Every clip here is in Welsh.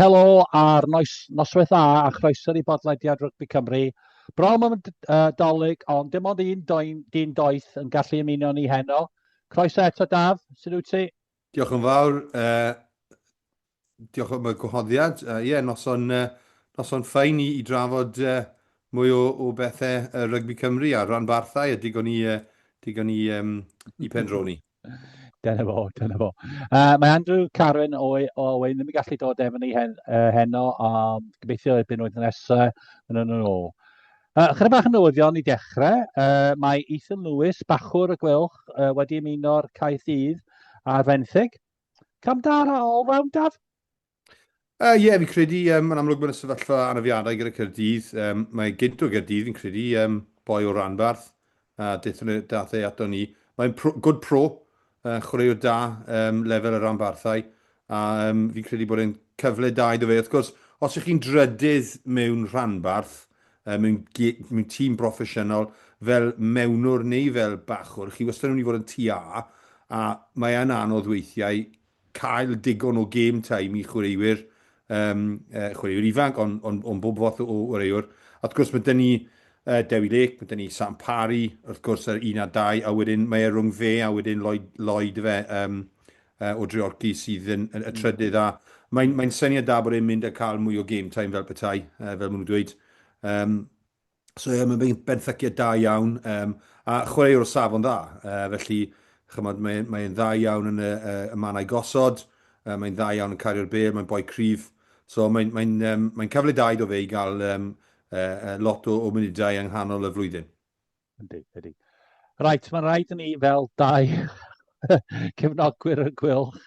Helo a'r noes, noswaith dda a chroeso i bodlediad Rygbi Cymru. Brom am y d- yy, dolyg, ond dim ond un doen, dyn doeth yn gallu ymuno ni heno. Croeso eto Daf, sut wyt ti? Diolch yn fawr, uh, diolch am y gwahoddiad. Uh, yeah, noson, uh, noson ffain i, i drafod uh, mwy o, o bethau uh, rygbi Cymru a rhanbarthau a digon i, uh, digon i, um, i pendroni. Dyna fo, dyna fo. Uh, mae Andrew Karen o, o Owen ddim yn gallu dod efo ni hen, uh, heno, ond gobeithio erbyn oedd nesaf, yn yn ôl. Uh, Chyda bach yn newyddion i dechrau, uh, mae Ethan Lewis, bachwr y gwylch, uh, wedi ymuno'r caeth ddydd ar fenthyg. Cam da ar ôl, fewn daf? Ie, uh, yeah, fi'n credu, um, yn amlwg mae'n y sefyllfa anafiadau gyda Cyrdydd. Um, mae gynt o Gyrdydd, fi'n credu, um, boi o Ranbarth, a dethon nhw dath e ato ni. Mae'n pro, good pro, uh, chwaraewr da, um, lefel y Ranbarthau, a um, fi'n credu bod e'n cyfle da iddo fe. Wrth gwrs, os ych chi'n drydydd mewn Ranbarth, um, mewn, mewn tîm broffesiynol, fel mewnwr neu fel bachwr, chi wastad yn mynd i fod yn tua, a mae'n anodd weithiau cael digon o game time i chwaraewyr, um, uh, chwaraewyr ifanc, ond on, on bob fath o chwaraewr. Wrth gwrs, mae dyn ni uh, Dewi Lake, mae dyn ni Sam Parry, wrth gwrs, yr un a dau, a wedyn mae e rhwng fe a wedyn Lloyd, Lloyd fe um, uh, o Dreorci sydd yn, yn, y mm. trydydd. A mae'n mae syniad da bod e'n mynd a cael mwy o game time fel petai, uh, fel maen nhw'n dweud. Um, So ie, mae'n mynd benthyciad da iawn, um, a chwaraewr o safon dda. Uh, felly, chymod, mae'n mae dda iawn yn y, uh, y manau gosod, uh, mae'n dda iawn yn cario'r bel, mae'n boi cryf. So mae'n mae um, mae cyfle da iddo fe i gael um, uh, lot o, o munudau yng nghanol y flwyddyn. Ydy, ydy. Rhaid, mae'n rhaid i ni fel dau cefnogwyr y Gweilch.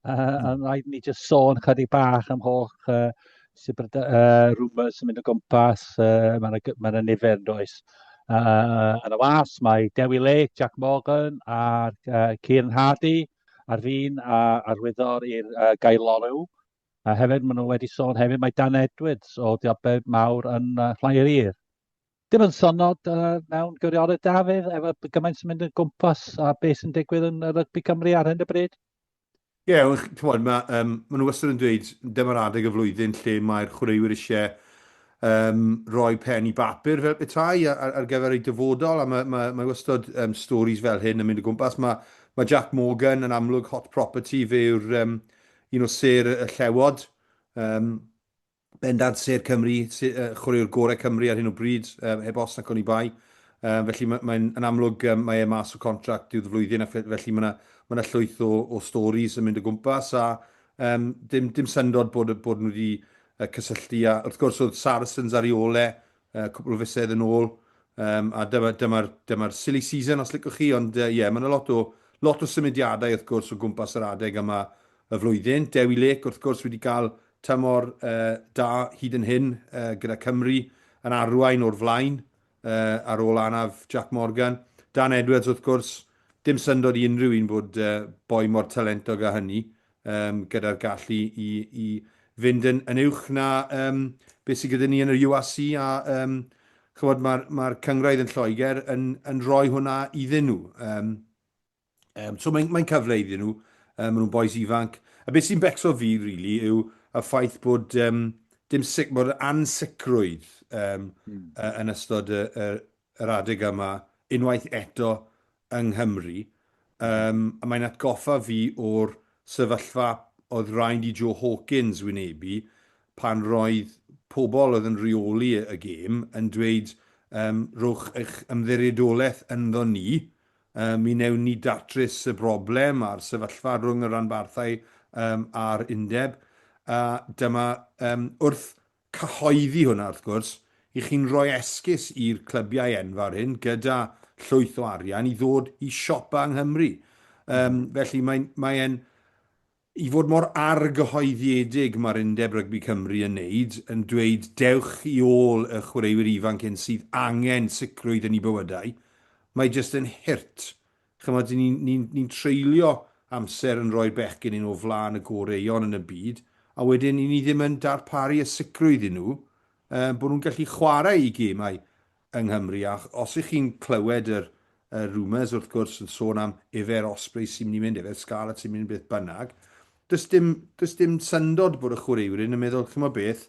Uh, hmm. Ond rhaid ni jyst sôn chydig bach am holl uh, uh, rumours yn mynd o gwmpas. Uh, Mae'n yna ma nifer yn does. Uh, yn y was, mae Dewi Lake, Jack Morgan a uh, Kieran Hardy ar fin a arwyddor i'r uh, gaelorw. A hefyd, maen nhw wedi sôn hefyd, mae Dan Edwards o Diabed Mawr yn uh, Llairir. Dim yn sonod uh, mewn gwirionedd, Dafydd, efo gymaint sy'n mynd yn gwmpas a beth sy'n digwydd yn rygbi Cymru ar hyn y bryd? Ie, yeah, chymod, mae, um, maen nhw wastad yn dweud, dyma'r adeg y flwyddyn lle mae'r chwaraewyr eisiau um, roi pen i bapur fel petai ar, ar gyfer eu dyfodol, a mae, mae, mae wastad um, stories fel hyn yn mynd o gwmpas. Mae, mae Jack Morgan yn amlwg hot property, fe yw'r um, un o ser y llewod. Um, Bendant sêr Cymru, chwaraewr gorau Cymru ar hyn o bryd, heb os nac oni bai. Felly mae'n yn amlwg mae e mas o contract diwedd y flwyddyn a felly mae 'na llwyth o storis yn mynd o gwmpas a dim syndod bod nhw wedi cysylltu a wrth gwrs oedd Saracens ar ei ôl e uh, cwpl o fisoedd yn ôl, um, a dyma'r dyma, dyma silly season os licwch chi, ond ie, uh, yeah, mae yna lot o, lot o symudiadau wrth gwrs o gwmpas yr adeg yma y flwyddyn. Dewi Lake wrth gwrs wedi cael tymor uh, da hyd yn hyn uh, gyda Cymru yn arwain o'r flaen uh, ar ôl anaf Jack Morgan. Dan Edwards wrth gwrs, dim syndod i unrhyw un bod uh, boi mor talentog a hynny um, gyda'r gallu i, i fynd yn, yn uwch na um, beth sydd gyda ni yn yr UAC a um, chywod, mae'r ma cyngraedd yn Lloegr yn, yn rhoi hwnna iddyn nhw. Um, um, so mae'n mae cyfle iddyn nhw, um, maen nhw'n boes ifanc. A beth sy'n becso fi, really, yw y ffaith bod um, dim sic, bod ansicrwydd um, mm. uh, yn ystod y, y, yr adeg yma unwaith eto yng Nghymru, yym a mae'n atgoffa fi o'r sefyllfa oedd raid i Joe Hawkins wynebu pan roedd pobl oedd yn rheoli y gêm yn dweud yym rhowch eich ymddiriedolaeth ynddo ni, yy mi wnewn ni datrys y broblem a'r sefyllfa rhwng y rhanbarthau yym a'r undeb, a dyma yym wrth cyhoeddi hwnna, wrth gwrs, i chi'n rhoi esgus i'r clybiau enfawr hyn gyda llwyth o arian i ddod i siopa yng Nghymru. Um, felly mae'n mae e'n i fod mor argyhoeddiedig mae'r Undeb Rygbi Cymru yn neud, yn dweud dewch i ôl y chwaraewyr ifanc hyn sydd angen sicrwydd yn ei bywydau, mae jyst yn hurt Chimod, ni'n ni, ni treulio amser yn rhoi bechgyn yn o flaen y goreuon yn y byd, a wedyn ni ddim yn darparu y sicrwydd i nhw um, bod nhw'n gallu chwarae i gemau yng Nghymru. A os ych chi'n clywed yr, y rumours, wrth gwrs, yn sôn am efer Osprey sy'n mynd i mynd, efer Scarlett sy'n mynd beth bynnag, Does dim, does dim syndod bod y chwaraewyr yn meddwl, chimod beth,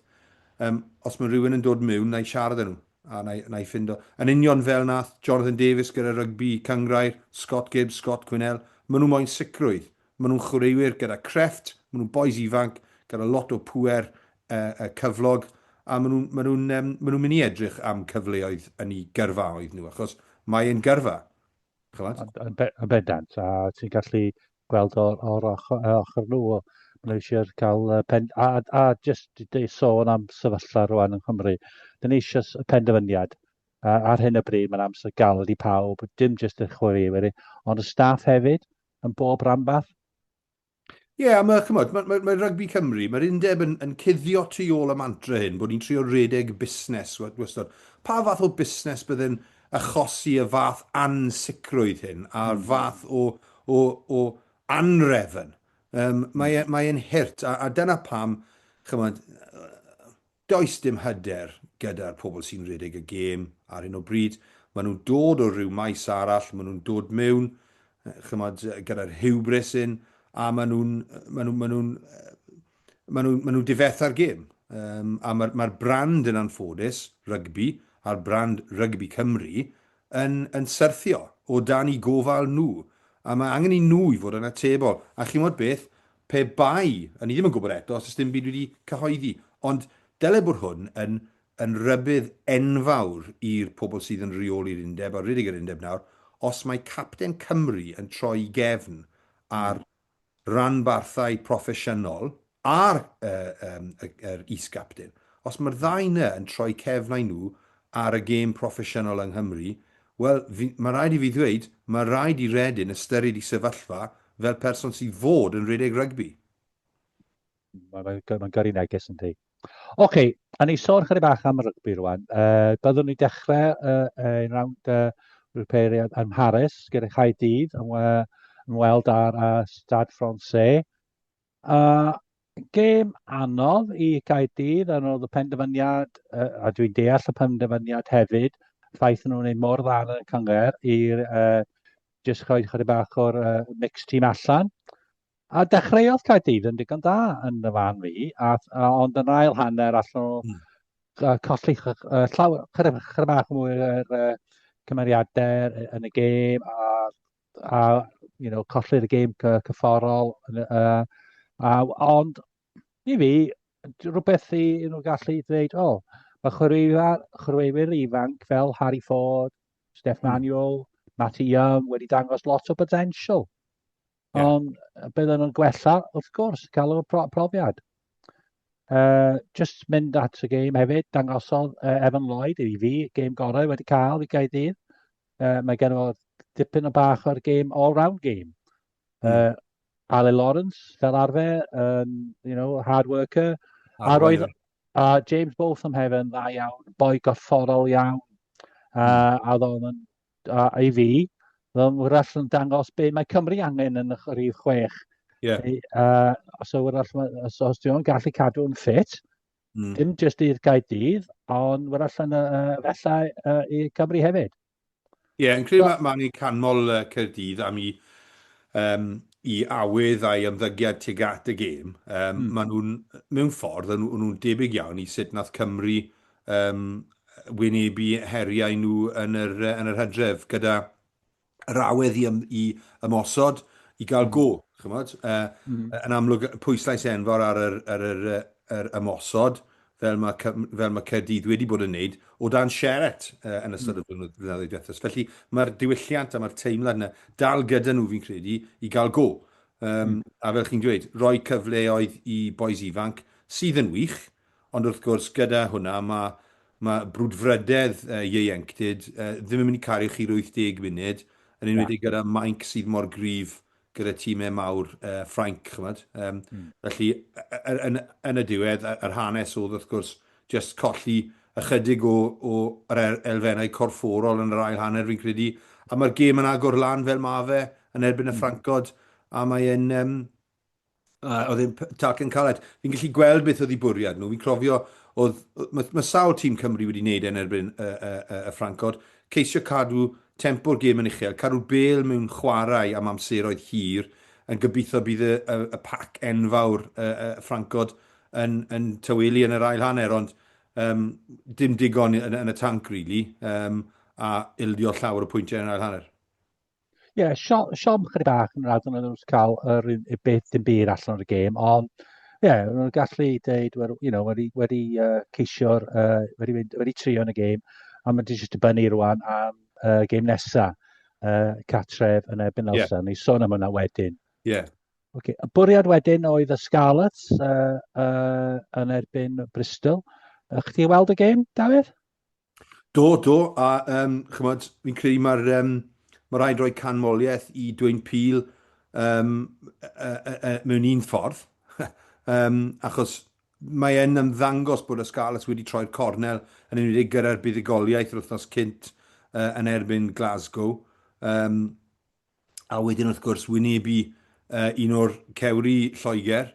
um, os mae rhywun yn dod mewn, na i siarad â nhw, a na, na i ffindo. Yn union fel nath Jonathan Davies gyda rygbi cyngrair, Scott Gibbs, Scott Quinnell, maen nhw moyn sicrwydd. Maen nhw'n chwaraewyr gyda crefft, maen nhw'n boys ifanc, gyda lot o pwer uh, uh, cyflog, a maen nhw'n maen nhw, um, maen nhw mynd i edrych am cyfleoedd yn ei gyrfaoedd nhw, achos mae e'n gyrfa. A, a, be, a bedant, a ti'n gallu gweld o'r, or ochr, e, ochr nhw. Mae eisiau cael uh, pen... A, a jyst i sôn am sefyllfa rwan yng Nghymru, dyn ni eisiau penderfyniad. A, ar hyn o bryd mae'n amser galed i pawb, dim jyst i'r chwaraewyr, ond y staff hefyd, yn bob rhanbarth. Ie, yeah, mae, chymod, mae, mae, mae rygbi Cymru, mae'r undeb yn, yn cuddio tu ôl y mantra hyn, bod ni'n trio redeg busnes wastad. Pa fath o busnes byddai'n achosi y fath ansicrwydd hyn a'r fath o o o anrefn. Yym mae e mae e'n hurt a a dyna pam ch'mod does dim hyder gyda'r pobl sy'n redeg y gêm ar hyn o bryd. Ma' nhw'n dod o ryw maes arall, ma' nhw'n dod mewn ch'mod gyda'r hubris hyn a ma' nhw'n ma' nhw ma' nhw'n maen nhw, maen nhw difetha'r gêm. Um, a mae'r ma brand yn anffodus, rygbi, a'r brand rygbi Cymru, yn, yn syrthio o dan i gofal nhw. A mae angen i nhw i fod yn atebol. A chi'n modd beth, pe bai, a ni ddim yn gwybod eto, os ys dim byd wedi cyhoeddi, ond dyle bod hwn yn, yn rybydd enfawr i'r pobl sydd yn reoli'r undeb, a rydych yr undeb nawr, os mae capten Cymru yn troi gefn ar ranbarthau proffesiynol ar yr is-gapten. Os mae'r ddau yna yn troi cefnau nhw ar y gêm proffesiynol yng Nghymru, wel, mae'n rhaid i fi ddweud, mae'n rhaid i Reading ystyried ei sefyllfa fel person sydd fod yn rhedeg rygbi. Mae'n gyrru neges, yndi. Ocê, a ni sôn chydig bach am y rygbi rwan. Uh, byddwn ni dechrau uh, ein rawnd uh, rwpeiriad yn Mharis gyda chai dydd yn, uh, yn weld ar uh, Stade Francais. Uh, gêm anodd i chai dydd yn oedd y penderfyniad, uh, a dwi'n deall y penderfyniad hefyd, ffaith nhw'n ei mor dda yn y cyngor i'r uh, jyst rhoi chydig bach o'r uh, mixed team allan. A dechreuodd Caerdydd yn digon da yn y fan fi, a, a, ond yn ail hanner allan nhw mm. uh, colli uh, llaw, chyda, chyda bach mwy yr uh, cymeriadau yn y gêm a, a you know, colli'r y gêm cyfforol. Uh, a, ond i fi, rhywbeth i nhw gallu dweud, o, oh, mae chwaraewyr, chwaraewyr ifanc fel Harry Ford, Steph hmm. Manuel, Matty Young wedi dangos lot o potensial. Yeah. Ond bydden nhw'n gwella, wrth gwrs, cael y pro profiad. Uh, just mynd at y game hefyd, dangosodd uh, Evan Lloyd i fi, game gorau wedi cael i gael ddydd. Uh, mae gen o dipyn o bach o'r game, all-round game. Uh, mm. Ale Lawrence, fel arfer, um, you know, hard worker. Hard a roedd, a James Botham hefyd yn dda iawn, boi gorfforol iawn. Uh, a ddo'n yn a i fi, fel wrach yn dangos be mae Cymru angen yn y rhif chwech. Yeah. Ei, uh, os, wrach, os, os dwi'n gallu cadw'n ffit, mm. dim jyst i'r Gaerdydd, ond wrach yn y uh, fellau uh, i Cymru hefyd. Ie, yeah, yn credu so, mae ni'n canmol uh, Cyrdydd am i, um, i awydd a'i ymddygiad tuag at y gêm. Um, mm. Maen nhw'n, mewn ffordd, nhw'n nhw debyg iawn i sut nath Cymru Yn wynebu heriau nhw yn yr hydref, gyda yr awydd i ymosod, i gael go, chimod. Yn amlwg, pwyslais enfawr ar yr ymosod, fel mae Caerdydd wedi bod yn wneud, o dan Sheret yn ystod y blynyddoedd diwethaf. Felly, mae'r diwylliant a mae'r teimlad yna dal gyda nhw, fi'n credu, i gael go. A fel chi'n dweud, rhoi cyfleoedd i bois ifanc, sydd yn wych, Ond wrth gwrs, gyda hwnna, mae, mae brwdfrydedd ieuenctid ddim yn mynd i cario chi'r 80 munud, yn enwedig gyda Mainc sydd mor gryf gyda timau mawr Ffrainc, chimod. Felly, yn, yn y diwedd, yr hanes oedd, wrth gwrs, jyst colli ychydig o, o yr elfennau corfforol yn yr ail hanner, fi'n credu, a mae'r gêm yn agor lan fel mae fe yn erbyn y Ffrancod, a mae e'n, Uh, oedd e'n tacl yn caled. Fi'n gallu gweld beth oedd ei bwriad nhw. Fi'n clofio, oedd, mae, mae sawl tîm Cymru wedi wneud e'n erbyn y, y, y, y Ffrancod. Ceisio cadw tempo'r gêm yn uchel, cadw bel mewn chwarae am amseroedd hir, yn gobeithio bydd y, y, y pac enfawr y, y Ffrancod yn, yn tywelu yn yr ail hanner, ond um, dim digon yn, yn y tanc, really, um, a ildio llawer o pwyntiau yn yr ail hanner. Ie, sio- siom chydig bach yn yr adran oedd nhw wedi cael yr un- y beth dim byd allan o'r gêm, ond ie, yeah, nhw'n gallu deud, wel, you know, wedi, wedi uh, ceisio'r, uh, wedi, mynd- wedi trio yn y gêm, a mae'n jyst dibynnu rwan am uh, gêm nesa, uh, Catref yn erbyn Ie. Elsa. Ni sôn am hwnna wedyn. Ie. Okay. Y bwriad wedyn oedd y Scarlets uh, uh, yn erbyn Bristol. Uh, Chdi weld y gêm, Dafydd? Do, do, a um, chymod, fi'n credu mae'r um, mae rhaid rhoi canmoliaeth i Dwayne Peel um, e, e, e, mewn un ffordd, um, achos mae e'n ymddangos bod y Scarlets wedi troi'r cornel yn enwedig gyda'r buddugoliaeth yr wythnos cynt uh, yn erbyn Glasgow. Um, a wedyn wrth gwrs wynebu uh, un o'r cewri Lloegr,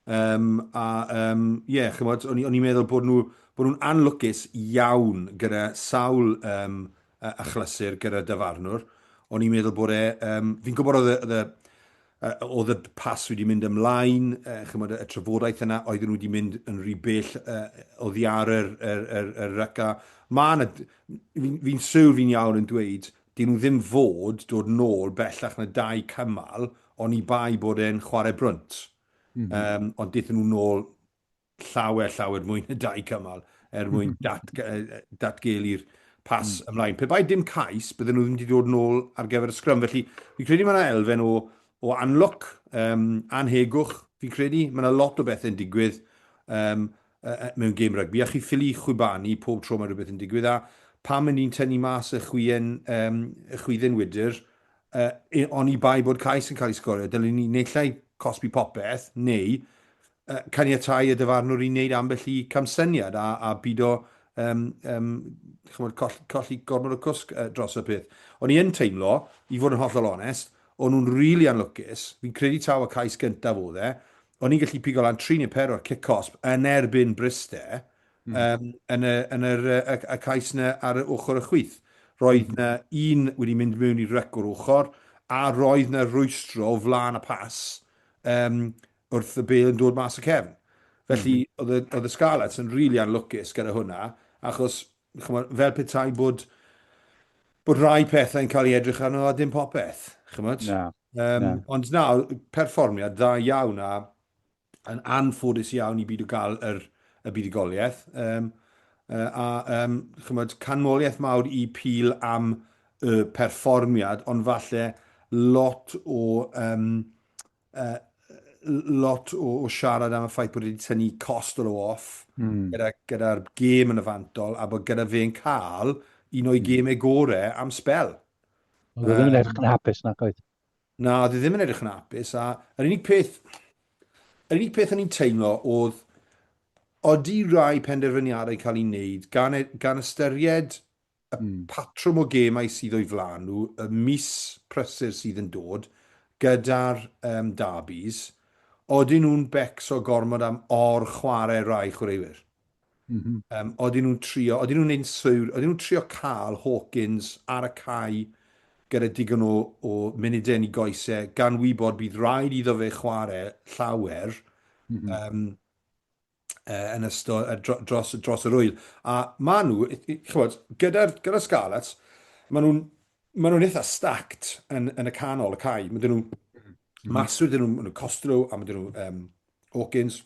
um, a um, yeah, chymod, o'n i'n meddwl bod nhw bod nhw'n anlwcus iawn gyda sawl um, achlysur gyda dyfarnwr. O'n i'n meddwl bod e, um, fi'n gwybod oedd y, oedd y oedd y pas wedi mynd ymlaen, uh, chymod, y trafodaeth yna, oedd nhw wedi mynd yn rhy bell uh, o ddiar yr, yr, yr, yr ryca. Mae yna, fi'n fi, siwr fi'n iawn yn dweud, Dy'n nhw ddim fod dod nôl bellach na dau cymal oni bai bod e'n chwarae brwnt. Yym, ond dethon nhw nôl llawer, llawer mwy na dau cymal er mwyn datgelu'r pas ymlaen. Pe bai dim cais, bydden nhw ddim wedi dod nôl ar gyfer y sgrym. Felly, fi'n credu mae yna elfen o, o anlwc, um, anhegwch, fi'n credu. Mae yna lot o bethe'n digwydd. Um, mewn gêm rygbi, a chi ffili chwibanu pob tro mae rhywbeth yn digwydd, a pam yn ni'n tynnu mas y chwien, um, y chwydden wydr, uh, oni bai bod cais yn cael ei sgorio, dylwn ni neillai cosbi popeth, neu uh, caniatau y dyfarnwr i wneud ambell i camsyniad a, a byd o um, um, chymod, colli, colli gormod o cwsg uh, dros y peth. O'n i yn teimlo, i fod yn hollol onest, o'n nhw'n rili really anlwcus, fi'n credu taw y cais gyntaf oedd e, O'n i'n gallu pigo lan tri neu pedwar cic cosb yn erbyn Bryste mm. um, yn, y, yn yr, y, y cais yna ar y ochr y chwyth. Roedd mm. na un wedi mynd mewn i rec o'r ochr, a roedd na rwystro o flaen y pas um, wrth y bel yn dod mas y cefn. Felly, mm. oedd y Scarlets yn rili really anlwcus gyda hwnna, achos chymod, fel petai bod, bod rhai pethau yn cael ei edrych arno a dim popeth, chymod? Na, um, na. Ond na, perfformiad dda iawn a yn anffodus iawn i byd o gael yr, y buddugoliaeth. Um, a um, chymod, canmoliaeth mawr i Pil am y perfformiad, ond falle lot o um, lot o, o siarad am y ffaith bod wedi tynnu cost o off mm. gyda'r gyda gêm yn y fantol a bod gyda fe'n cael un o'i hmm. gêmau gorau am spel. Oedd e ddim yn edrych yn hapus na coed. Na, oedd e ddim yn edrych yn hapus a yr unig peth yr unig peth o'n i'n teimlo oedd oeddi rai penderfyniadau cael ei wneud gan, e, gan ystyried y patrwm o gemau sydd o'u flaen nhw y mis prysur sydd yn dod gyda'r yym derbys, odyn nhw'n becso gormod am or-chwarae rai chwaraewyr? M-hm. Yym, odyn nhw'n trio, odyn nhw'n insewr, odyn nhw'n trio cael Hawkins ar y cae gyda digon o, o munudau yn ei goes e, gan wybod bydd rhaid iddo fe chwarae llawer, mm-hmm. um, uh, yn ystod uh, dro, dros, dros yr wyl. A maen nhw, chybod, gyda'r gyda Scarlets, maen nhw'n maen nhw'n eitha stacked yn, yn y canol y cae. Maen nhw'n mm-hmm. maswyd, maen nhw'n nhw Costello a maen nhw'n um, Hawkins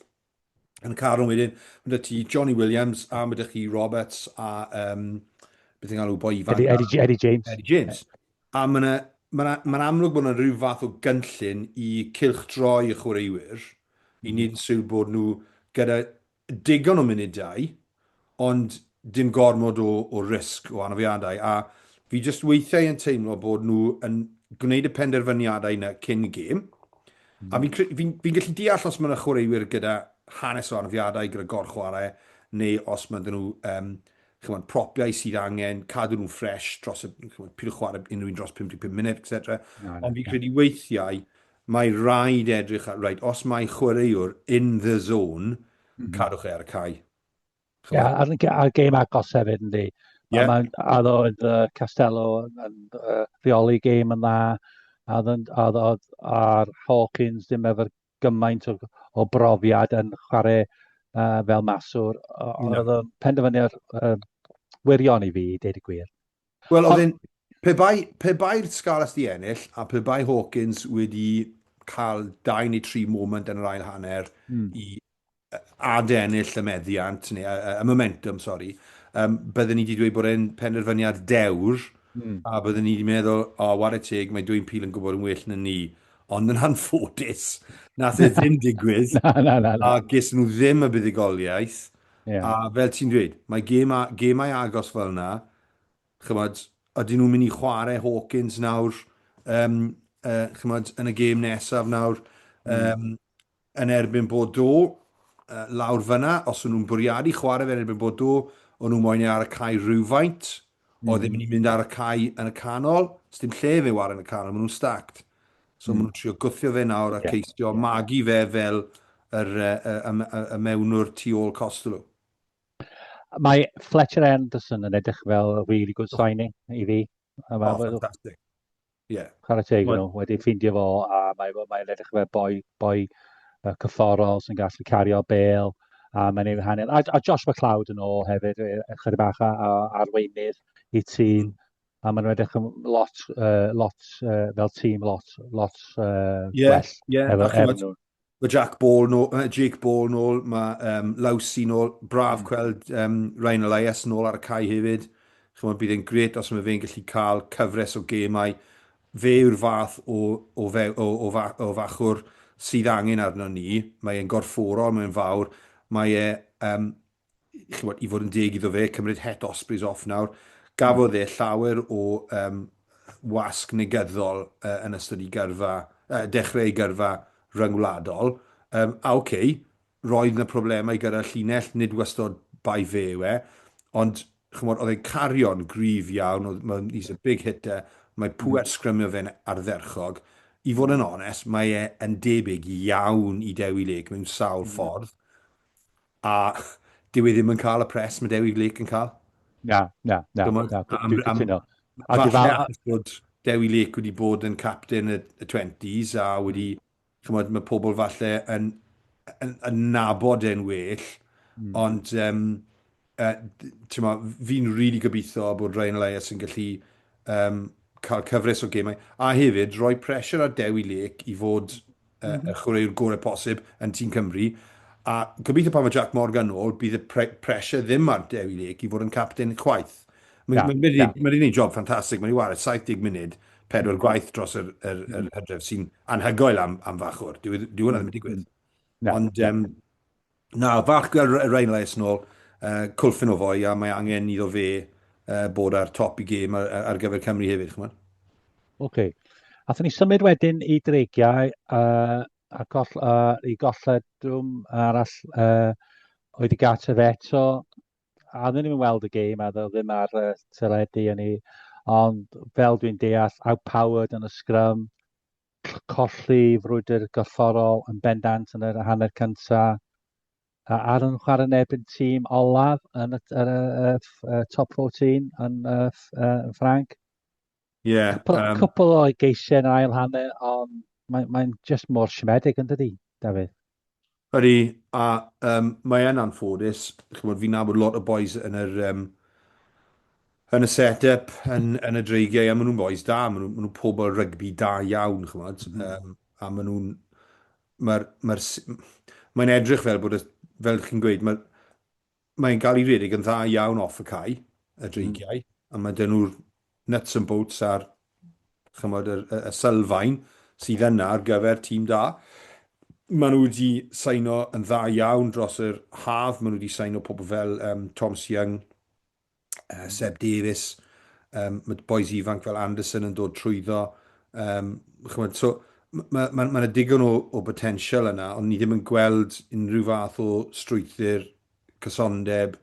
yn y carwng wedyn. Maen nhw'n ti Johnny Williams a maen nhw'n chi Roberts a um, beth yw'n galw boi ifanc. Eddie, Eddie, Eddie James. Eddie James. A mae 'na, mae 'na, mae'n amlwg bod 'na ryw fath o gynllun i cylchdroi y chwaraewyr i wneud yn siwr bod nhw gyda digon o munudau ond dim gormod o o risg o anafiadau a fi jyst weithiau yn teimlo bod nhw yn gwneud y penderfyniadau 'na cyn y gêm a fi'n cre- fi'n fi'n gallu deall os mae 'na chwaraewyr gyda hanes o anafiadau gyda gorchwarae neu os mae 'da nhw yym ch'mod, propiau sydd angen cadw nhw'n ffresh dros y, ch'mod, pidwch chwarae unrhyw un dros 55 munud, et cetera. Ond fi'n credu weithiau, mae rhaid edrych ar, reit, os mae chwaraewr in the zone, mhm. cadwch e ar y cae. Ie, yeah, a'r, a'r gêm agos hefyd, yndi. Yeah. Mae'n addo oedd uh, Castello yn uh, rheoli gêm yn dda, a oedd a'r Hawkins ddim efo'r gymaint o, o brofiad yn chwarae uh, fel maswr, ond oedd o'n penderfyniad uh, wirion i fi, i dweud y gwir. Wel, oedd yn, pe bai'r pe bai Scarlets di ennill, a pe bai Hawkins wedi cael dau neu tri moment yn yr ail hanner mm. i adennill y meddiant, neu y momentum, sori, um, byddwn ni wedi dweud bod e'n penderfyniad dewr, mm. a byddwn ni wedi meddwl, o, oh, war y teg, mae dwi'n pil yn gwybod yn well na ni. Ond yn anffodus, nath e ddim digwydd, na, na, na, na. a ges nhw ddim y buddigoliaeth. Yeah. A fel ti'n dweud, mae gemau, gemau agos fel yna, chymod, ydyn nhw'n mynd i chwarae Hawkins nawr, um, uh, chymod, yn y gêm nesaf nawr, um, mm. yn erbyn Bordeaux lawr fyna, os o'n nhw'n bwriadu chwarae fe yn erbyn Bordeaux, o'n nhw moyn e ar y cae rhywfaint, mm. oedd ddim yn mynd ar y cae yn y canol, os dim lle fe war yn y canol, maen nhw'n stacked. So mm. maen nhw'n trio gwthio fe nawr a yeah. ceisio yeah. magu fe fel yr, y, y, y, y mewnwr tu ôl Costello. Mae Fletcher Anderson yn edrych fel really good signing i fi. A mae, oh, fantastic. Yeah. Chwarae teg nhw, wedi ffindio fo, a mae'n mae, mae edrych fe boi, boi uh, cyfforol sy'n gallu cario bel, a mae'n ei hanner. A, a Josh McLeod yn ôl hefyd, e, e, chyda bach a, a arweinydd i tîm, mm. a mae'n edrych yn lot, uh, lot uh, fel tîm, lot, lot uh, yeah, well. Yeah, efo, efo nhw. Mae Jack Ball nôl, uh, Jake Ball nôl, mae um, Lawsi nôl, braf mm. gweld um, Ryan Elias nôl ar y cae hefyd. Chymod, bydd e'n gret os mae fe'n gallu cael cyfres o gemau. Fe yw'r fath o, o, fe, o, o, fa, o fachwr sydd angen arno ni. Mae e'n gorfforol, mae'n fawr. Mae e um, chymod, i fod yn deg iddo fe, cymryd het Ospreys off nawr, gafodd e llawer o um, wasg negyddol uh, yn ystod i gyrfa, uh, dechrau ei gyrfa rhyngwladol. Um, a oce, okay, roedd yna problemau gyda'r llinell, nid wastod bai fe yw e, ond chymod, oedd e'n cario'n gryf iawn, oedd, mae, he's a big hitter, mae hmm. pwer sgrymio fe'n ardderchog. I fod yn onest, mae e yn debyg iawn i Dewi Lake mewn sawl hmm. ffordd. A dyw e ddim yn cael y pres mae Dewi Lake yn cael. Na, na, na. Dwi'n cytuno. Falle achos bod Dewi Lake wedi bod yn captain y, y 20s a wedi, chymod, mae pobl falle yn, yn, yn nabod e'n well, mm. ond um, uh, ma, fi'n rili really gobeithio bod Ryan Elias yn gallu um, cael cyfres o gemau, a hefyd rhoi pressure ar Dewi Lake i fod uh, mm -hmm. chwaraewr gorau posib yn tîm Cymru. A gobeithio pan mae Jack Morgan yn ôl, bydd y pre pressure ddim ar Dewi Lake i fod yn captain chwaith. Mae'n ma, ma, ma, ma un job ffantastig, mae'n ei wario 70 munud, pedwar mm. gwaith dros yr, yr, yr mm. hydref sy'n anhygoel am, am fachwr. Dwi, dwi hwnna'n ddim yn mm. digwydd. Ond um, Na, falch gweld Ryan Lais nôl. Uh, cwlffin o fwy a mae angen iddo fe uh, bod ar top i gêm ar, ar gyfer Cymru hefyd, chymod? Oce. Okay. Athyn ni symud wedyn i dreigiau uh, a goll, uh, i golledwm arall uh, oedd i Gartref eto. A ddim yn weld y gêm a ddim ar uh, teledu yn ei ond fel dwi'n deall, outpowered yn y sgrym, colli frwydr gorfforol yn bendant yn yr hanner cynta. A ar yn chwarae yn erbyn tîm olaf yn y, y, y, y top 14 yn y, y, Ffranc. Ie. Yeah, cwpl, um, cwpl o geisiau yn ail hanner, ond mae'n mae just mor siomedig yn dydi, Dafydd? Ydy, a um, mae e'n anffodus. Chymod, fi'n nabod lot o boys yn yr... Um, yn y set-up, yn, yn y dreigiau, a maen nhw'n boys da, maen nhw'n nhw, nhw pobl rygbi da iawn, chymod, mm. um, a maen nhw'n... Mae'n mae edrych fel bod, y, fel chi'n gweud, mae, Mae'n cael ei redeg yn dda iawn off y cae, y dreigiau, a mae dyn nhw'r nuts and bolts a'r chymod, y, y, y sylfaen sydd yna ar gyfer tîm da. Mae nhw wedi saino yn dda iawn dros yr haf, mae nhw wedi saino pobl fel um, Thomas Young, uh, Seb Davies, um, mae boes ifanc fel Anderson yn dod trwyddo. Um, chymod, so, mae ma, ma, ma digon o, o potensial yna, ond ni ddim yn gweld unrhyw fath o strwythyr cysondeb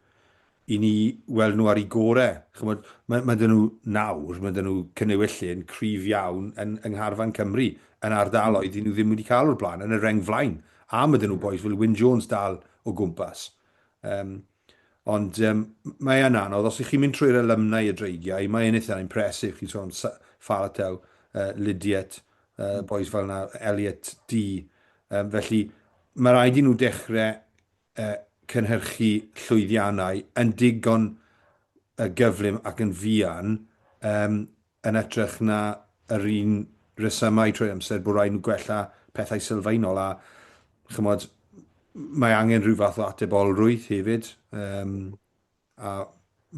i ni weld nhw ar ei gorau. Chymod, mae, ma dyn nhw nawr, mae dyn nhw cynnywyllun cryf iawn yn, yng Ngharfan Cymru, yn ardaloedd i nhw ddim wedi cael o'r blaen, yn y reng flaen. A mae dyn nhw boes fel Wyn Jones dal o gwmpas. Um, Ond um, mae e'n anodd, os ych chi'n mynd trwy'r alumni y dreigiau, mae e'n eitha impresif, chi'n sôn Falatau, uh, Lydiat, uh, mm. boys fel yna, Elliot D. Um, felly, mae rhaid i nhw dechrau uh, cynhyrchu llwyddiannau yn digon uh, gyflym ac yn fian um, yn ytrach na yr un resymau trwy amser bod rhaid nhw gwella pethau sylfaenol a chymod mae angen rhyw fath o atebolrwydd hefyd um, a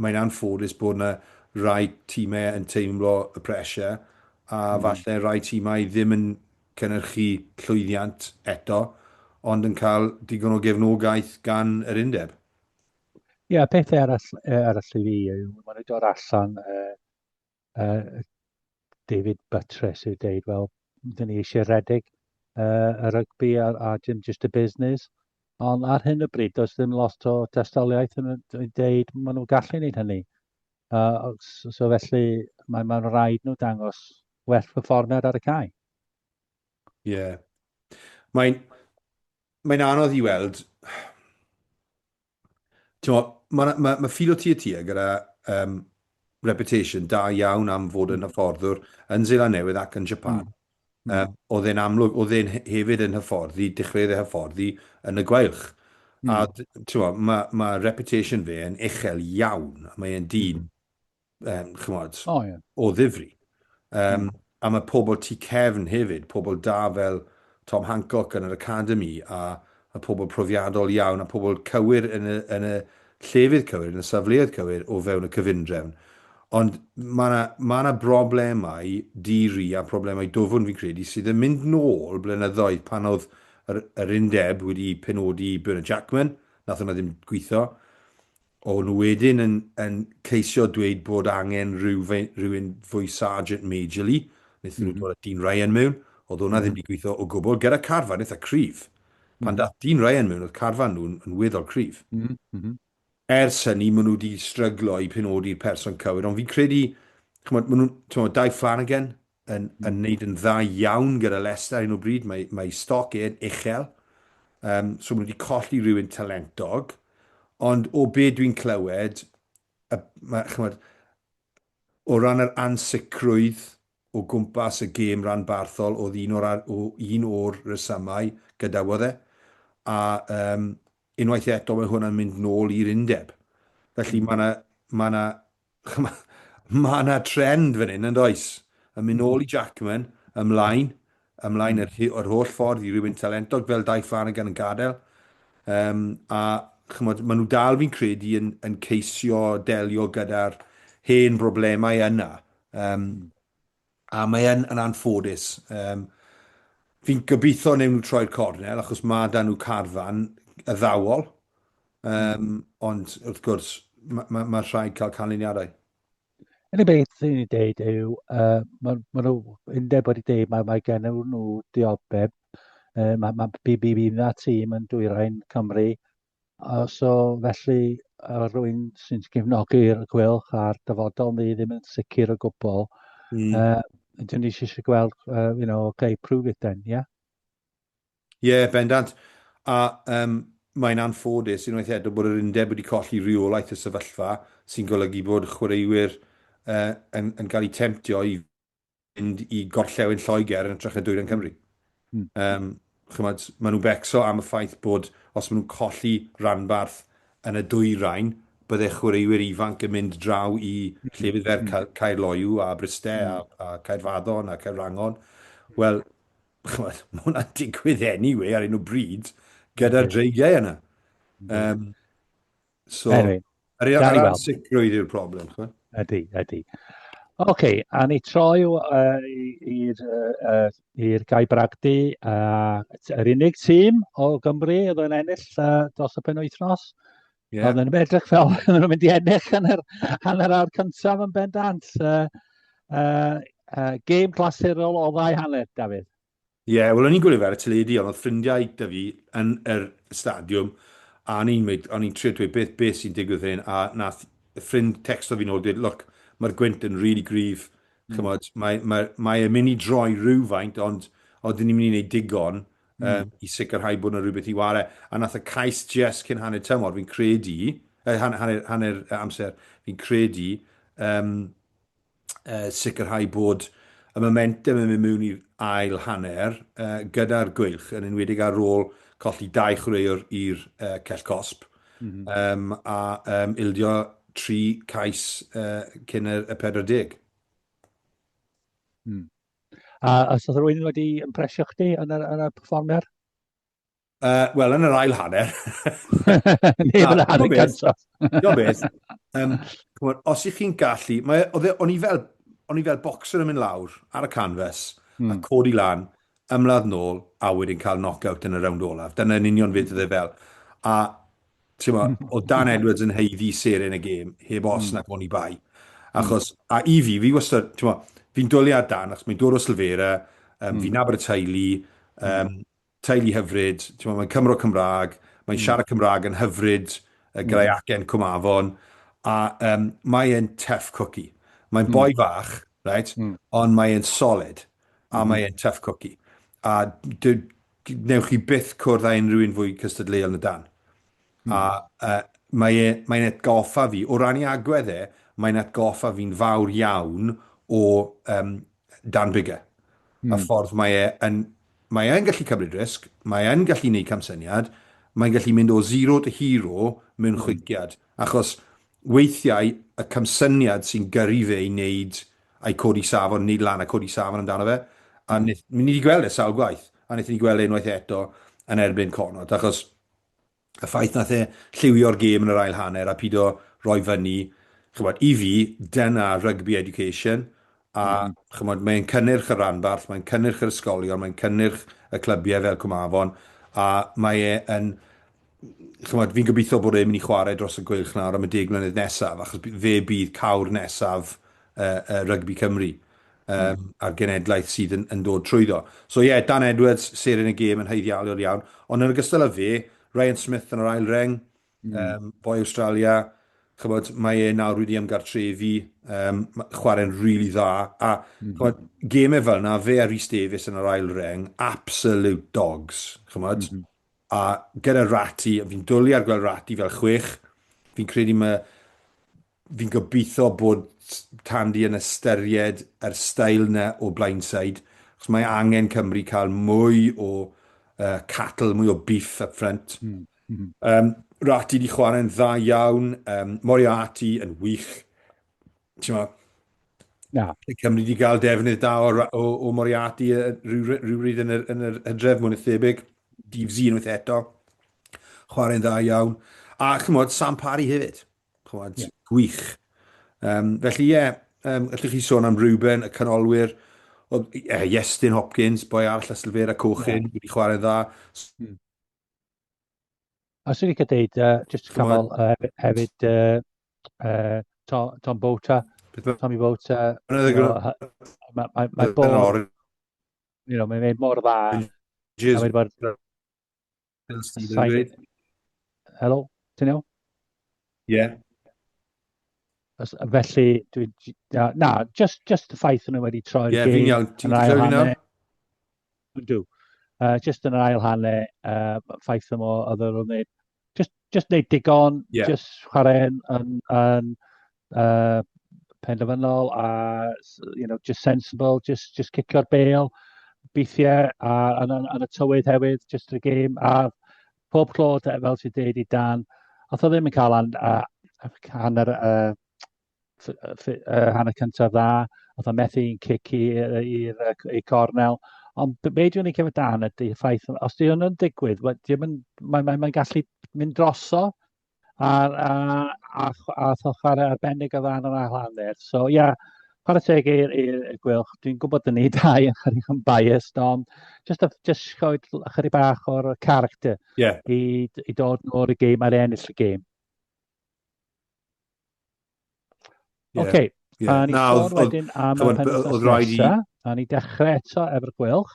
mae'n anffodus bod yna rai tîmau yn teimlo y pressure a mm. falle rai tîmau ddim yn cynnyrchu llwyddiant eto ond yn cael digon o gefnogaeth gan yr undeb. Ie, yeah, pethau arall, eh, arall i fi yw, maen nhw'n dod allan uh, uh, David Buttress yw deud, wel, dyn ni eisiau redeg uh, y rygbi a, a dim just y busnes. Ond ar hyn o bryd, does ddim lot o destoliaeth yn dweud maen nhw'n gallu gwneud hynny. Uh, so, so felly, mae'n mae rhaid nhw dangos werth perfformiad ar y cae. Ie. Yeah. Mae'n mae anodd i weld T'mo', ma' 'na, ma' ma' Fil o Tir Tir gyda yym reputation da iawn am fod yn hyfforddwr yn Seland Newydd ac yn Japan. Yym, o'dd e'n amlwg, o'dd e'n he- hefyd yn hyfforddi, dechreuodd e hyfforddi yn y Gweilch. A d- t'mo', ma' ma' reputation fe yn uchel iawn, a mae e'n dyn um, chymod, oh, yeah. o ddifri. Um, mm. A mae pobl tu cefn hefyd, pobl da fel Tom Hancock yn yr Academy, a, a pobl profiadol iawn, a pobl cywir yn y, yn y llefydd cywir, yn y safleoedd cywir o fewn y cyfundrefn. Ond mae yna ma na broblemau diri a problemau dofwn fi'n credu sydd yn mynd nôl blynyddoedd pan oedd yr, yr undeb wedi penodi Bernard Jackman, nath hwnna ddim gweithio, O'n nhw wedyn yn yn ceisio dweud bod angen rhyw fe- rhywun fwy Sergeant Majorly, wnaethon nhw dod â dyn Ryan mewn, oedd hwnna ddim wedi gweithio o gwbl, gyda carfan eitha cryf. Pan daeth dyn Ryan mewn oedd carfan nhw yn weddol cryf. Ers hynny maen nhw wedi stryglo i penodi'r person cywir, ond fi'n credu, chimod, maen nhw'n, timod, Dai Flanagan, yn wneud yn dda iawn gyda Leicester ar hyn o bryd. Mae ei stoc e'n uchel, so maen nhw wedi colli rhywun talentog. Ond o be dwi'n clywed, chimod, o ran yr ansicrwydd o gwmpas y gêm ranbarthol oedd un o'r rhesymau gadawodd e, a unwaith eto mae hwnna'n mynd nôl i'r undeb. Felly mae 'na Mae yna trend fan hyn, yn does? Yn mynd nôl i Jackman, ymlaen, ymlaen yr, yr holl ffordd i rywun talentog fel Dai Flanagan yn gadael. Um, a chymod, maen nhw dal fi'n credu yn, yn ceisio delio gyda'r hen broblemau yna. Um, A mae yn, yn anffodus. Um, fi'n gobeithio newn nhw troi'r cornel, achos mae dan nhw carfan y ddawol. Um, ond wrth gwrs, mae ma, ma rhaid cael canlyniadau. Yn y beth sy'n ei dweud yw, uh, mae ma nhw undeb wedi dweud, mae, mae gen nhw dioddeb, uh, mae ma, BBB na tîm yn dwyrain Cymru, Yy so felly yy rywun sy'n cefnogi'r Gweilch a'r dyfodol ni ddim yn sicr o gwbl. Mm. Yy dyn ni eisiau gweld uh, you know, okay, prove it then, yeah? Ie, yeah, bendant. A um, mae'n anffodus unwaith eto bod yr undeb wedi colli rheolaeth y sefyllfa sy'n golygu bod chwaraewyr uh, yn, yn cael eu temtio i mynd i gorllewin Lloegr yn ytrach na dwyrain Cymru. Mm. Um, chymod, maen nhw'n becso am y ffaith bod os maen nhw'n colli ranbarth yn y dwyrain, bydde chwaraewyr ifanc yn mynd draw i hmm. llefydd fer hmm. Caer Loiw a Bryste mm. a, hmm. a Caerfaddon a Caerwrangon. Wel, chymod, mae hwnna'n digwydd anyway ar un o bryd gyda'r dreigiau yna. Um, So, anyway, yr ansicrwydd yw'r broblem. Ydy, ydy. Oce, okay, a ni troi i'r uh, uh, Gai Bragdy, uh, yr unig tîm o Gymru oedd yn ennill uh, dros y pen wythnos. Yeah. Oedd yn edrych fel oedd nhw'n mynd i ennill hanner, hanner awr cyntaf yn bendant. Uh, uh, uh, game glasurol o ddau hanner, Dafydd. Ie, wel o'n i'n gwylio fe ar y teledu ond oedd ffrindiau 'da fi yn yr stadiwm a o'n i'n mynd, o'n i'n trio dweud beth, beth sy'n digwydd fan hyn a nath ffrind tecsto fi nôl dweud look, mae'r gwynt yn rili gryf, ch'mod, mae mae mae e'n mynd i droi rywfaint ond odyn ni'n mynd i wneud digon yym i sicrhau bod 'na rywbeth i ware' a nath y cais jest cyn hanner tymor fi'n credu, yy han- hanner hanner yy amser fi'n credu yym uh, sicrhau bod y momentum yn mynd mewn i'r ail hanner uh, gyda'r gweilch, yn enwedig ar ôl colli dau chwaraewr i'r uh, cell cosp, mm -hmm. um, a um, ildio tri cais uh, cyn y, y 40. Hmm. A os oedd rwy'n wedi ympresio chdi yn y, yn y performer? Uh, Wel, yn yr ail hanner. Neu yn yr hanner cyntaf. Do beth. Um, on, os ych chi'n gallu, mae, e, o'n i fel, o'n i fel boxer yn mynd lawr ar y canfas, mm. a hmm. codi lan, ymladd nôl, a wedyn cael knock-out yn y rownd olaf. Dyna'n union fyd ydde fel. A, ti'n ma, hmm. o Dan Edwards yn heiddi seren y gêm, heb os mm. nac o'n i bai. Hmm. Achos, mm. a i fi, fi wastad, ti'n ma, fi'n dwliad Dan, achos mae'n dod o Sylfera, um, mm. fi'n nabod y teulu, um, teulu hyfryd, t'mod mae'n Cymro Cymraeg, mae'n siarad Cymraeg yn hyfryd, y graeagen Cwm Afon, a yym mae e'n tough cookie. Mae'n boi fach, reit, ond mae e'n solid, a mae e'n tough cookie. A d- d- newch chi byth cwrdd â unrhyw un fwy cystadleuol na Dan. A yy mae e mae'n atgoffa fi, o ran ei agwedd e, mae'n atgoffa fi'n fawr iawn o yym Dan Biggar. Mm. A ffordd mae e yn... Mae e'n gallu cymryd risg, mae e'n gallu gwneud camsyniad, mae'n gallu mynd o zero to hero mewn hmm. chwiciad. Achos weithiau y camsyniad sy'n gyrru fe i wneud a'i codi safon, wneud lan a codi safon amdano fe. A hmm. ni wedi gweld e sawl gwaith, a wnaethon ni gweld e unwaith eto yn erbyn Connaught, achos y ffaith nath e lliwio'r gêm yn yr ail hanner a pido roi fyny, ch'mod, i fi, dyna rugby education, a mm. ch'mod, mae'n cynnyrch y ranbarth, mae'n cynnyrch yr ysgolion, mae'n cynnyrch y clybiau fel Cwmafon, a mae e yn, ch'mod, fi'n gobeithio bod e'n mynd i chwarae dros y gweilch nawr am y deg mlynedd nesaf, achos fe bydd cawr nesaf uh, uh, rygbi Cymru. yym a'r genedlaeth sydd yn yn dod trwyddo. So ie, Dan Edwards, seren y gêm yn haeddialol iawn, ond yn ogystal â fe, Ryan Smith yn yr ail reng, um, boi Awstralia, chybod, mae e nawr wedi ymgartrefu, um, chwarae'n rili really dda, a mm. chybod, gemau fel yna, fe a Rhys Davies yn yr ail reng, absolute dogs, chybod, mm -hmm. a gyda Rati, fi'n dwlu ar gweld Rati fel chwech, fi'n credu mae Fi'n gobeithio bod Tandy yn ystyried yr style 'na o blindside, achos mae angen Cymru cael mwy o uh, cattle, mwy o beef up front. Mm. Mm -hmm. um, Rati di chwarae'n dda iawn, um, Moriarty yn wych. Ti'n ma, Na. Cymru wedi cael defnydd da o, o, o Moriarty rhywbryd yn yr, yn yr hydref mwyn y thebyg. Dydd Zee unwaith eto. Chwarae'n dda iawn. A chymod, Sam Parry hefyd. Clywed yeah. gwych. Um, felly, ie, yeah, um, allwch chi sôn am Ruben, y canolwyr, o, yeah, Iestyn Hopkins, boi arall a Sylfera Cochyn, yeah. wedi chwarae dda. Hmm. A sy'n licio deud, uh, just canol uh, hefyd, uh, uh, Tom, Tom Bota, Tommy Bota, mae bod, you know, mae'n mor dda, a mae'n bod Fel Steve yn dweud. Helo, ti'n iawn? Ie. Yeah. Felly, dwi... Na, just, just y ffaith nhw wedi troi'r yeah, gêm. Ie, fi'n iawn. Ti'n clywed fi nawr? Dw. Uh, just yn yr ail hanne, uh, ffaith yma, oedd yr oedd just, just neud digon, yeah. just chwarae yn, yn, yn yy penderfynol a you know just sensible, just just cicio'r bêl weithiau a yn, yn, yn y tywydd hefyd, just y gêm a pob tro fel ti'n deud i Dan, oedd o ddim yn cael an, uh, hanner uh, uh, hanner cyntaf dda, oedd o methu i'n cic i'r cornel. Ond be dwi'n ei cefyd dan ydy ffaith, os di hwn yn digwydd, mae'n mae, mae, mae gallu mynd droso, a a a ch- a tho chwarae arbennig o dda yn yr ail hanner. So ia, chwarae teg i'r i'r i'r Gweilch. Dwi'n gwybod dyn ni dau yn chydig yn biased, ond jyst a- jyst rhoi l- ychydig bach o'r character Ie. i d- i dod nôl y gêm ar ennill y gêm. Ie, Ocê, Ie. a ni Na, sôn oedd- oedd- wedyn am y ch'mod, be- oedd penwythnos rhaid i- nesa, a ni dechrau eto efo'r Gweilch.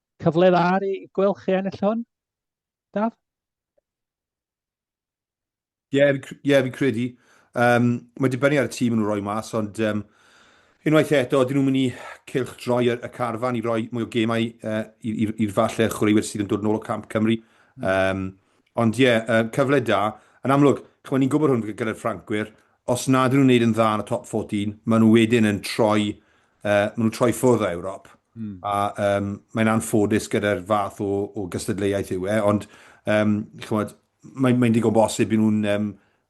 Cyfle dda ar ei gweld chi ennill hwn, Daf? Ie, yeah, fi'n yeah, fi credu. Um, mae dibynnu ar y tîm yn rhoi mas, ond um, unwaith eto, dyn nhw'n mynd i cilch droi y, y carfan i roi mwy o gemau uh, i'r falle chwaraewyr sydd yn dod yn ôl o Camp Cymru. Um, ond ie, yeah, uh, cyfle da. Yn amlwg, chymod, ni'n gwybod hwn gyda'r Ffrancwyr, os nad nhw'n wneud yn dda yn y top 14, maen nhw wedyn yn troi uh, maen nhw'n troi ffwrdd o Ewrop. Mm. A um, mae'n anffodus gyda'r fath o, o gystadleuaeth yw e, ond um, chymod, mae'n mae digon bosib i nhw'n um,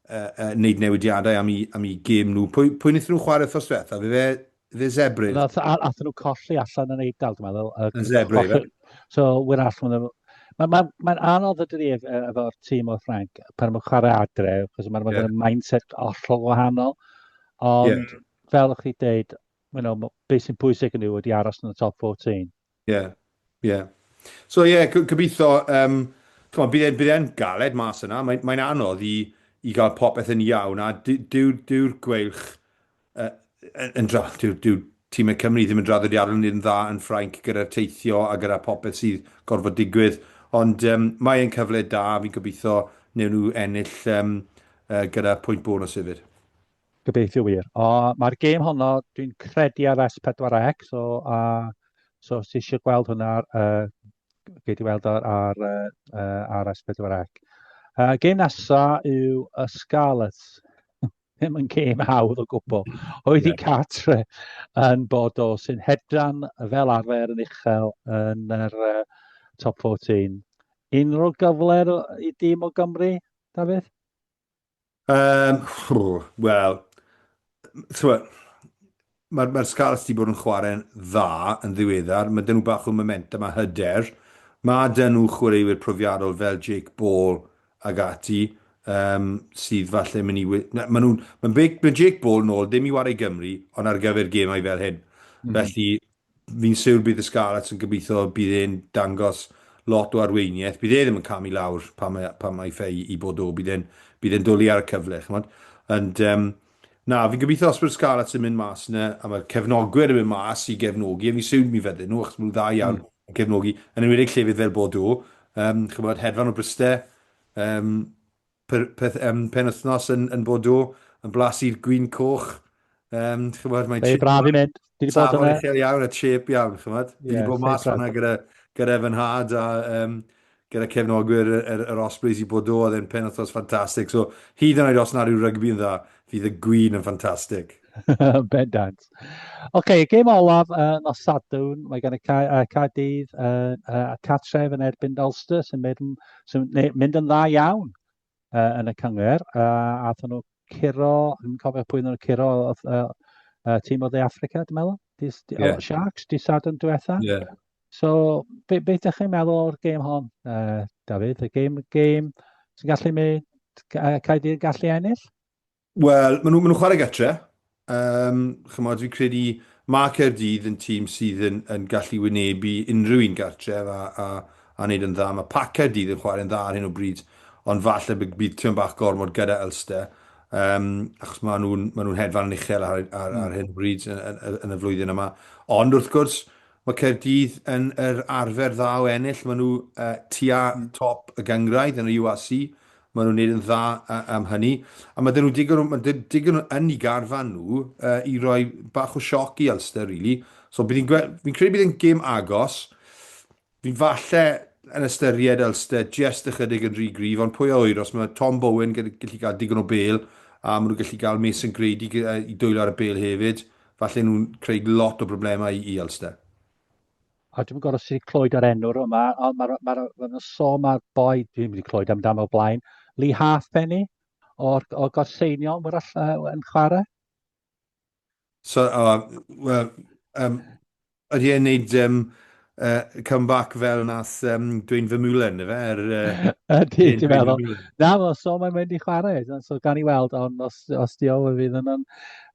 uh, uh, neud newidiadau am i, am i gym nhw. Pwy, pwy wnaethon nhw chwarae wrthos diwetha? Fe fe, fe Zebrin? Athyn nhw colli allan yn Eidal, dwi'n meddwl. Yn Zebrin, fe? So, wyr allan nhw. Mae'n ma, ma anodd ydy ef efo'r tîm o Ffranc pan mae'n chwarae adre, achos mae'n yeah. mindset ollol wahanol. Ond yeah. fel o'ch chi dweud, you know, beth sy'n pwysig yn yw wedi aros yn y top 14. Ie, yeah, ie. Yeah. So ie, yeah, gobeithio, um, on, bydd e'n e galed mas yna, mae'n mae anodd i, i gael popeth yn iawn, a dyw'r dyw, dyw gweilch uh, yn dra, dyw'r dyw tîm y Cymru ddim yn draddodiadol yn dda yn Ffrainc gyda'r teithio a gyda popeth sydd gorfod digwydd, ond um, mae'n cyfle da, fi'n gobeithio newn nhw ennill um, uh, gyda pwynt bonus hefyd. Gobeithio wir. O, mae'r gêm honno, dwi'n credu ar S4C, so, a, so os ti eisiau gweld hwnna, uh, gei di weld ar, ar, uh, ar S4C. Uh, gêm nesa yw y Scarlets. Ddim yn gêm hawdd o gwbl. Oedd yeah. i Catre yn bod o sy'n hedran fel arfer yn uchel yn yr uh, top 14. Unrhyw gyfle i dîm o Gymru, Dafydd? Um, Wel, mae'r mae Scarlets wedi bod yn chwarae'n dda yn ddiweddar. Mae dyn nhw bach o momentum a hyder. Mae dyn nhw chwaraewyr profiadol fel Jake Ball ag ati um, sydd falle mynd i... Mae nhw'n... Mae Jake Ball nôl, ddim i wario Gymru, ond ar gyfer gemau fel hyn. Mm. Felly, Fi'n siwr bydd y Scarlets yn gobeithio bydd e'n dangos lot o arweiniaeth. Bydd e ddim yn camu lawr pan mae, pan mae ffei i bod o. Bydd e'n bydd e'n dwlu ar y cyfle, chymod. Ond, um, na, fi'n gobeithio os bydd Scarlets yn mynd mas yna, a mae'r cefnogwyr yn mynd mas i gefnogi, a fi'n siwr mi fydden nhw, achos maen nhw dda iawn mm. yn cefnogi, yn ymwedig llefydd fel bod o, um, chymod, hedfan o Bryste, um, Peth, peth um, penwthnos yn, yn Bodo, yn blas i'r gwyn coch. Um, chymod, mae'n Mae braf i mynd. Dwi wedi bod yna. Safon iawn a chip iawn, chymod. Dwi wedi bod mas fanna gyda, gyda fy nhad a um, gyda cefnogwyr yr, yr, yr Ospreys i Bodo, oedd e'n penwthnos ffantastig. So, hyd yn oed os na rhyw rygbi yn dda, fydd y gwyn yn ffantastig. Bendant. Ocê, gêm olaf yy nos Sadwrn, mae gan y Ca- yy Caerdydd yy yy cartref yn erbyn Ulster sy'n mynd yn sy'n ne- mynd yn dda iawn yy yn y cyngor. Yy aethon nhw curo, yn cofio pwy oedden nhw'n curo oedd yy yy tîm o De Affrica, dwi'n meddwl? Dis, di, Ie. o, Sharks, di Sadwrn diwetha. Ie. So, be, be ydych chi'n meddwl o'r gêm hon, uh, Dafydd? Y gêm, gêm sy'n gallu mynd, uh, Caerdydd yn gallu ennill? Wel, maen nhw, maen nhw chwarae gytre. Um, chymod, fi'n credu mae Caerdydd yn tîm sydd yn, yn gallu wynebu unrhyw un gartref a, a, a wneud yn dda. Mae Pac Caerdydd yn chwarae'n dda ar hyn o bryd, ond falle bydd, bydd Tyn Bach gormod gyda Elster. Um, achos maen nhw'n ma nhw hedfan yn uchel ar, ar, ar hmm. hyn o bryd yn, yn, yn y flwyddyn yma. Ond wrth gwrs, mae Caerdydd yn yr arfer dda o ennill. Maen nhw uh, tua hmm. top y gyngraedd yn y UAC Mae nhw'n neud yn dda am hynny. A ma' 'da nhw digon o, ma' da nhw digon o yn i garfan nhw i roi bach o sioc i Ulster rili. So bydd hi'n gwe-, fi'n credu bydd e'n gêm agos. Fi'n falle yn ystyried Ulster jest ychydig yn rhy gryf, ond pwy a ŵyr, os mae Tom Bowen gyda, gallu cael digon o bêl, a ma' nhw'n gallu cael Mason Grady i dwyllo ar y bêl hefyd, falle nhw'n creu lot o broblemau i Ulster. a dwi'm yn gwybod os ti wedi clywed yr enw yma, ond mae'r ma ma, ma, ma sôn mae'r boi, dwi ddim wedi clywed amdano o blaen, Lee Halfpenny o'r, o'r gorseiniol, mae'r allan yn chwarae. So, oh, well, um, ydy e'n neud um, uh, comeback fel nath um, dwi'n fy mwlen, efe? Er, uh, ydy, ti'n meddwl. Na, mae'n so mae'n mynd i chwarae, so gan i weld, ond os, os di o, fydd yn...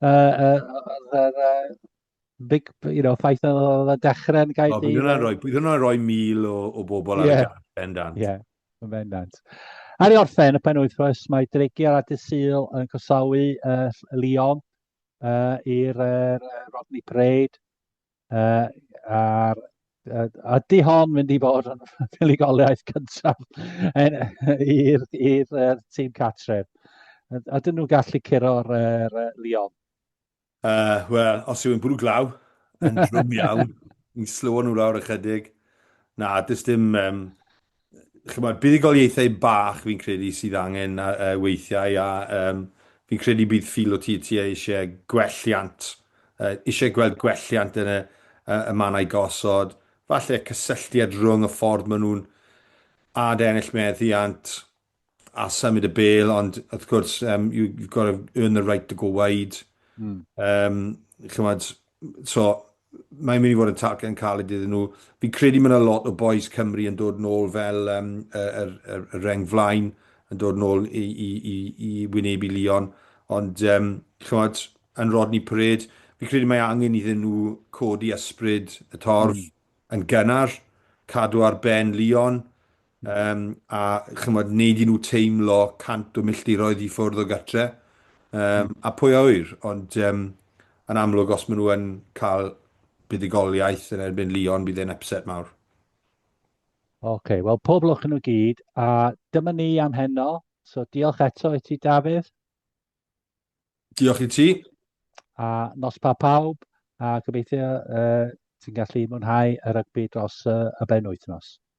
Uh, uh, uh, uh, big, you know, ffaith oedd y dechrau yn gael... O, bydd hwnna'n rhoi, bydd hwnna'n rhoi mil o, o bobl yeah. ar y gall, bendant. Ie, yeah, bendant. Ar ei orffen, y pen wythnos, mae Dregiau a Dysil yn cosawu uh, Leon uh, i'r uh, Rodney Parade. Uh, a'r a di hon mynd i fod yn fuligoliaeth cyntaf i'r tîm catref. A dyn nhw'n gallu curo'r uh, Leon. Uh, Wel, os yw'n bwrw glaw, yn drwm iawn, ni'n slywo nhw lawr ychydig. Na, dys dim... Um, chymod, buddigoliaethau bach fi'n credu sydd angen uh, weithiau a um, fi'n credu bydd ffil o ti ti eisiau gwelliant, uh, eisiau gweld gwelliant yn y, uh, y mannau gosod, falle cysylltiad rhwng y ffordd maen nhw'n ad ennill meddiant, a symud y bel, ond wrth gwrs, um, you, you've got to earn the right to go wide. Mm. Um, chymod, so, mae'n mynd i fod yn target yn cael ei iddyn nhw. Fi'n credu mae'n a lot o boys Cymru yn dod nôl fel um, y, y, y, y reng flaen, yn dod nôl i, i, i, i wynebu Leon. Ond, um, chymod, yn Rodney Parade, fi'n credu mae angen iddyn nhw codi ysbryd y torf mm. yn gynnar, cadw ar ben Leon, Yym, a chymod, neud i nhw teimlo cant o milltiroedd i ffwrdd o gartre. Um, mm. A pwy a wyr, ond um, yn amlwg os maen nhw yn cael buddigoliaeth yn erbyn Leon, bydd e'n upset mawr. Oce, okay, wel pob lwch yn nhw gyd, a dyma ni am heno. So diolch eto i ti, Dafydd. Diolch i ti. A nos pa pawb, a gobeithio uh, ti'n gallu mwynhau y rygbi dros uh, y ben wythnos.